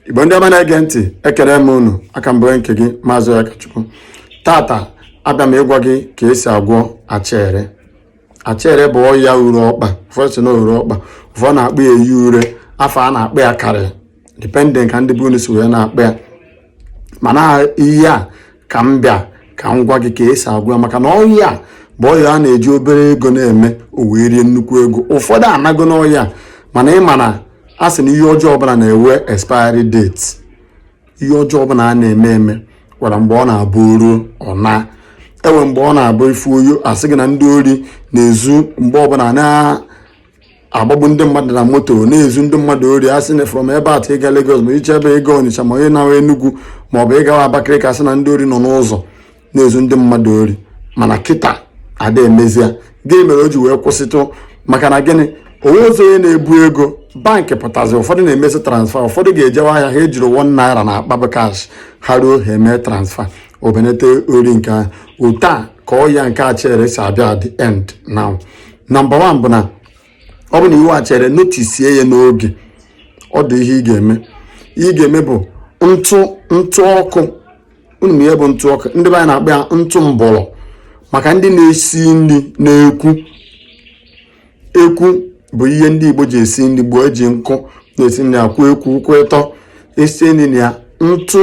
igbo ndị ọma na-ege ntị ekere m unu a ka m bụ nke gị maazị Ọyakachukwu tata abịa m ịgwa gị ka esi agwọ achere achere bụ ọya ure ọkpa ụfọdụ sị na ure ọkpa ụfọdụ na-akpọ ya eyi ure afa a na-akpọ ya karị dependent ka ndị be unu si wee na-akpọ ya mana ihe a ka m bịa ka m gwa gị ka esi agwọ ya maka na ọya a bụ ọya a na-eji obere ego na-eme o wee rie nnukwu ego ụfọdụ anago n'ọya mana ị ma na a sị na ihe ọjọọ ọbụla na-enwe expiry date ihe ọjọọ ọbụla a na-eme eme nwere mgbe ọ na-abụ o ruo ọ na enwe mgbe ọ na-abụ ifu oyo asị gị na ndị ori na-ezu mgbe ọbụla na agbagbu ndị mmadụ na moto na-ezu ndị mmadụ ori a sị na from ebe a ịga Lagos ma i shi ebe ịga Onitsha ma onye na-awa Enugu ma ọ bụ ịgawa Abakaliki asị na ndị ori nọ n'ụzọ na-ezu ndị mmadụ ori mana kịta ada emezie gịnị mere o ji wee kwụsịtụ maka na gịnị o nwezi onye na-ebu ego bankị pụtazi ụfọdụ na-emezi transfa ụfọdụ ga-ejewa ahịa ha ejiri one naira na akpa bụ kash ha ruo ha emee transfa o benete ori nke ahụ otu a ka ọya nke achere si abịa the end now nọmba wan bụ na ọ bụ na i nwee achere notisie ya n'oge ọ dị ihe ị ga-eme ihe ị ga-eme bụ ntụ ntụ ọkụ unu ma ihe bụ ntụ ọkụ ndị be anyị na-akpọ ya ntụ mbọrọ maka ndị na-esi nri n'ekwu ekwu bụ ihe ndị igbo ji esi nri gboo eji nkụ na-esi nri akwụ ekwu ụkwụ ịtọ esie nri na ya ntụ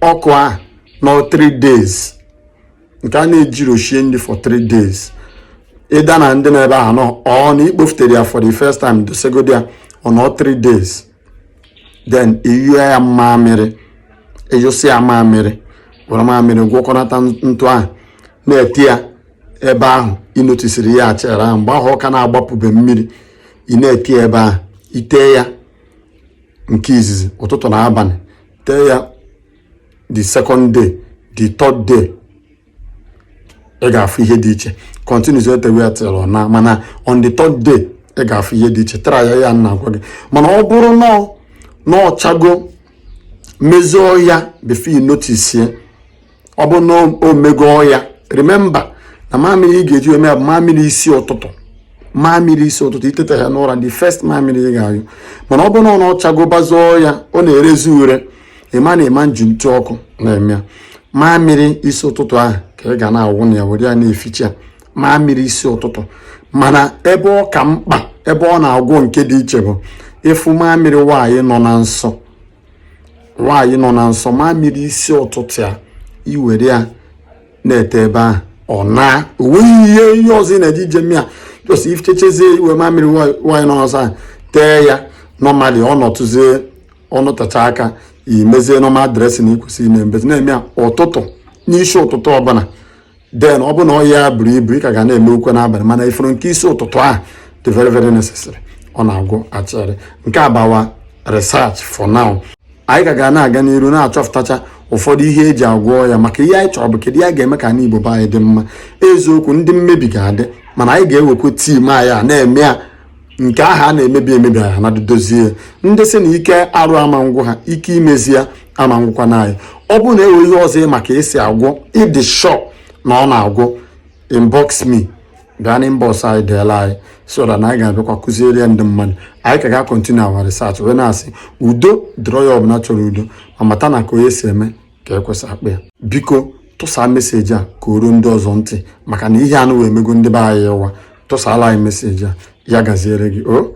ọkụ ahụ nọ 3 days nke a na-ejirọ shie nri for three days either na ọ dị n'ebe ahụ nọ or na ikpofutere ya for the first time dosegodi ya ọ nọ three days then ị yụe ya mamịrị ị yụsị ya mamịrị were mamịrị gwọkọnata ntụ ahụ na-ete ya ebe ahụ ịnotisiri ya achere ahụ mgbe ahụ ọ ka na-agbapụbe mmiri ị na-ete ya ebe ahụ itee ya nke izizi ụtụtụ na abalị tee ya the second day the third day ị ga-afụ ihe dị iche continues etewe ya till ọ naa mana on the third day ị ga-afụ ihe dị iche tara ya ya na agwa gị mana ọ bụrụ na ọchago mezie ọya before you notice ya ọ bụ na o mego ọya remember na mamịrị ị ga-eji eme ya bụ mamịrị isi ụtụtụ mamịrị isi ụtụtụ iteta ya n'ụra the first mamịrị ị ga-ayụ mana ọ bụrụ na ọ na ọchago bazie ọya ọ na-erezi ure ịma na ịma nji ntụ ọkụ na-eme ya mamịrị isi ụtụtụ ahụ ka ị ga na-awụ na ya were ya na-eficha ya mamịrị isi ụtụtụ mana ebe ọ ka mkpa ebe ọ na-agwọ nke dị iche bụ ịfụ mamịrị nwaanyị nọ na nsọ nwaanyị nọ na nsọ mamịrị isi ụtụtụ ya iwere ya na-ete ebe ahụ ọ na onweghị ihe ihe ọzọ ị na-eji eje eme ya just ị fichachazie iwe mamịrị nwaanyị nọ na nsọ ahụ tee ya nọmali ọ nọtụzie ọnụ tacha aka imezie normal dressing ikwesị ime emezi na-eme ya ụtụtụ n'isi ụtụtụ ọbụla then ọ bụ na ọnya ya buru ibu ị ka ga na-emekwu e n'abalị mana ị fụrụ nke isi ụtụtụ ahụ dị very very necessary ọ na-agwọ acha ere nke a bụ our research for now anyị ka ga na-aga n'iru na-achọpụtacha ụfọdụ ihe eji agwọ ya maka ihe anyị chọrọ bụ kedu ihe a ga-eme ka anị Igbo be anyị dị mma eziokwu ndị mmebi ga-adị mana anyị ga-ewekwa time anyị na-eme ya nke ahụ a na-emebi emebi anyị na-edozi ya ndị sị na ike arụ ama ngwụ ha ike imezi ya ama ngwụkwa na anyị ọ bụrụ na e nwee ihe ọzọ ị ma ka esi agwọ ị dị sure na ọ na-agwọ inbox me bịa na inbox anyị deela anyị so that na anyị ga-abịakwa kụziere ya ndị mmadụ anyị ka ga-continue our research wee na-asị udo dịrị onye ọbụla chọrọ udo ma mata na ka onye si eme ka ekwe si akpọ ya biko tụsaa message a ka o ruo ndị ọzọ ntị maka na ihe anụwa emego ndị be anyị ụwa tụsaala anyị message a ya gaziere gị o